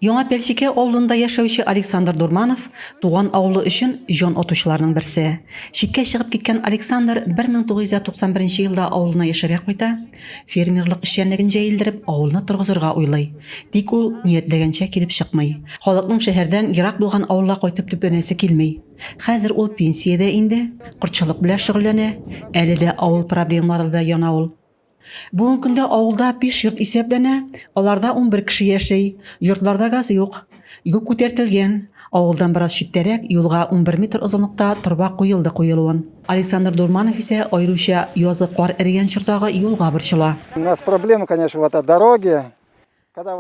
Яңа Пәлчекә авылында яшәүче Александр Дурманов туган авылы өчен җан атучыларның берсе. Читкә чыгып киткән Александр 1991 елда авылына яшәргә кайта, фермерлык эшчәнлеген җәелдереп, авылны торгызырга уйлый. Тик ул ниятләгәнчә килеп чыкмый. Халыкның шәһәрдән ерак булган авылга кайтып төпләнәсе килми. Хәзер ул пенсиядә инде, кортчылык белән шөгыльләнә. Әле дә авыл проблемалары белән яна ул. Бүгенге көндә авылда биш йорт исәпләнә, аларда унбер кеше яши. Йортларда газ юк. Юл күтәртелгән. Авылдан бераз читтәрәк, юлга унбер метр озынлыкта торба куелды куелуын. Александр Дурманов исә аеруча язгы кар эрегән чордагы юлга борчыла. У нас проблема, конечно, в этой дороге.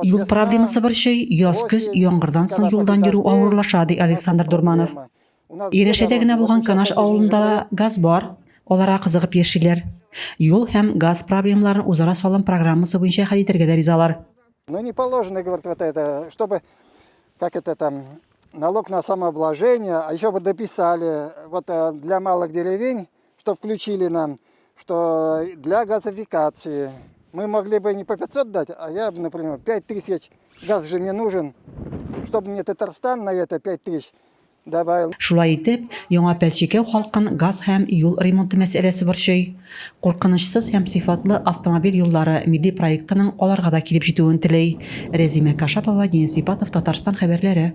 Юл проблемасы борчый, яз-көз яңгырдан соң юлдан йөрү авырлаша, ди Александр Дурманов. Ирешәдә генә булган Канаш авылында да газ бар, аларга кызыгып яшиләр. Юл һәм газ проблемаларын үзара салым программасы буенча хәл итәргә дә ризалар. Ну не положено, говорит, вот это, чтобы, как это там, налог на самообложение, а еще бы дописали, вот э, для малых деревень, что включили нам, что для газификации. Мы могли бы не по 500 дать, а я, например, 5 тысяч, газ же мне нужен, чтобы мне Татарстан на это 5 тысяч, Шулай итеп, яңа Пәлчекәү халкын газ һәм юл ремонты мәсьәләсе борчый. Куркынычсыз һәм сыйфатлы автомобиль юллары милли проектының аларга да килеп җитүен тели. Рәзимә Кашапова, Денис Ипатов, Татарстан хәбәрләре.